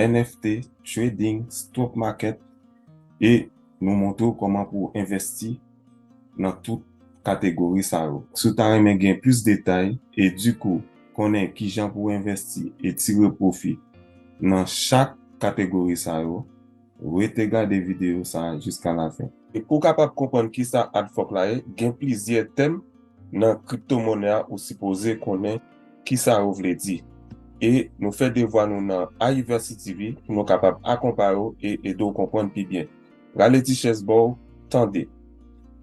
NFT, trading, stock market e nou montre w kòman pou w envèsti nan tout kategori sa yo. Si w ta renmen gen plis detay e di kou konnen kijan pou w envèsti e tire pwofi nan chak kategori sa yo, rete gade videyo sa jiska lafen. E pou w kapab konprann kisa Adfork la ye, gen plizyè tèm nan kriptomonè a ou sipoze konnen. Ki sa yo vle di? E nou fè devwa nou nan Ayiversity TV pou nou kapab akonpaye w e ede w konprann pi byen. Rale ti chèz ba w, tande.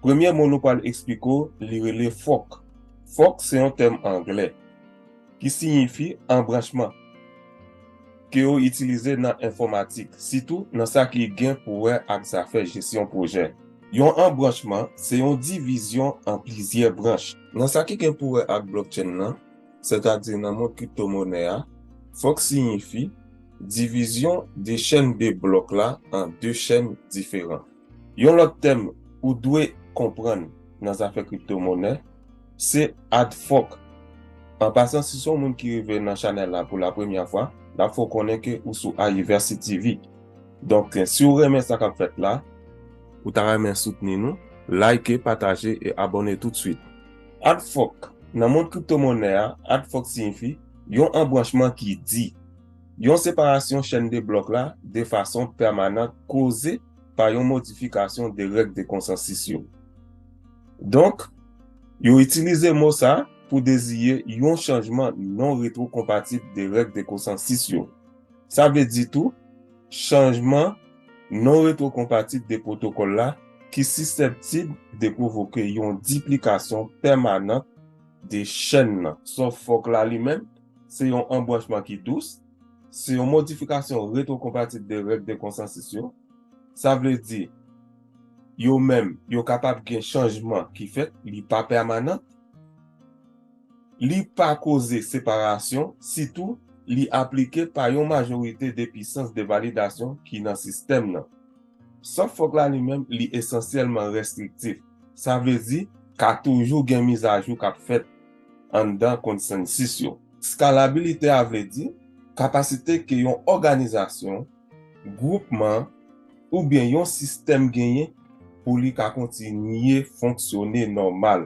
Premye mo nou pral eksplike w li rele fòk. Fòk se yon tèm angle ki siyifi anbranchman ke yo itilize nan enfòmatik, sitou nan sa ki gen pou wè ak zafè jesyon pwojè. Yon anbranchman se yon divizyon an plizyè branch. Nan sa ki gen pou wè ak blockchain nan, sètadi nan mond kriptomonè a, fòk siyifi divizyon de chèn de blòk la an de chèn diferan. Yon lòt tèm ou dwe konprann nan zafè kriptomonè, se ad fòk. An pasan si se yon moun ki rive nan chanèl la pou la premyè fwa, n ap fè w konnen ke ou sou Ayiversity TV. Donk si ou renmen sa kap fèt la. Ou ta renmen soutni nou? Like, pataje e abòne tout swit. Ad Fork, Nan mond kripto monè a, ad fork siyifi yon anbranchman ki di, yon separasyon chèn de blòk la de fason pèmanant koze pa yon modifikasyon de règ de konsansis yo. Donk, yo itilize mo sa pou deziye yon chanjman non-retwokonpatib de règ de konsansis yo. Sa vle di tou, chanjman non-retwokonpatit de pwotokòl la ki siseptib de pwovoke yon diplikasyon pèmanant de chèn nan. Sòf fòk la li menm, se yon anbranchman ki dous, se yon modifikasyon retwokonpatit de règ de konsansis yo. Sa vle di, yo menm, yo kapab gen chanjman ki fèt, li pa pèmanant. Li pa koze separasyon, sitou li aplike pa yon majorite de pisans de validasyon ki nan sistèm nan. Sofok la li menm li esansyèlman restriktif, sa vle di ka toujou gen mizajou k ap fèt anndan konsansis yo. Skalabilite a vle di kapasite ke yon òganizasyon, gwoupman oubyen yon sistèm genyen pou li ka kontinye fonksyone nòmal.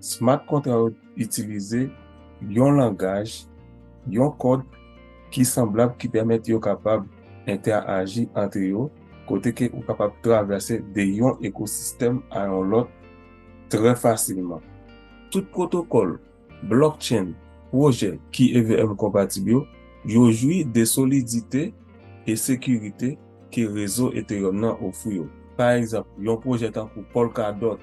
Smart kontra yo itilize yon langaj, yon kòd ki sanblab ki pèmèt yo kapab entèaji antre yo kote ke ou kapab travèse de yon ekosistèm a yon lòt trè fasilman. Tout pwotokòl blockchain pwojè ki EVM konpatib yo, yo jwi de solidite e sekirite ke rezo Ethereum nan ofri yo. Pa egzanp, yon pwojè tankou Polkadot,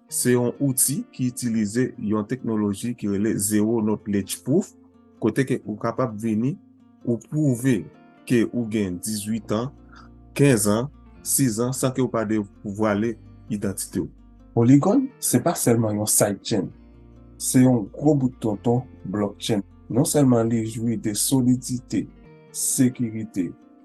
Se yon outi ki itilize yon teknoloji ki rele Zero Knowledge Proof, kote ke ou kapab vini, ou pwouve ke ou gen 18 an, 15 an, 6 an, san ke ou pa devwale idantite ou. Polygon se pa sèlman yon sidechain, se yon gwo bout tonton blockchain. Non sèlman li jwi de solidite, sekirite,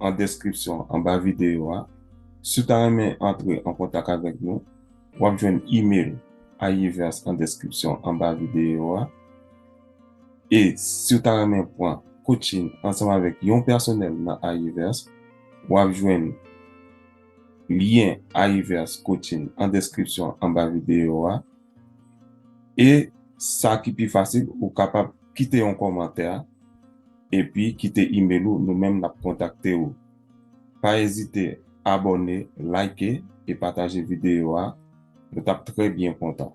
an deskripsyon anba videyo a. Si w ta renmen antre an kontak avèk nou, w ap jwenn email Ayivers an deskripsyon anba videyo a. E si w ta renmen pran coaching ansanm avèk yon pèsonèl nan Ayivers, w ap jwenn lyen Ayivers Coaching an deskripsyon anba videyo a. E sa ki pi fasil, ou kapab kite yon kòmantè. Epi kite email ou nou menm nap kontakte ou. Pa ezite abòne, like e pataje videyo a nou tap trè byen kontan.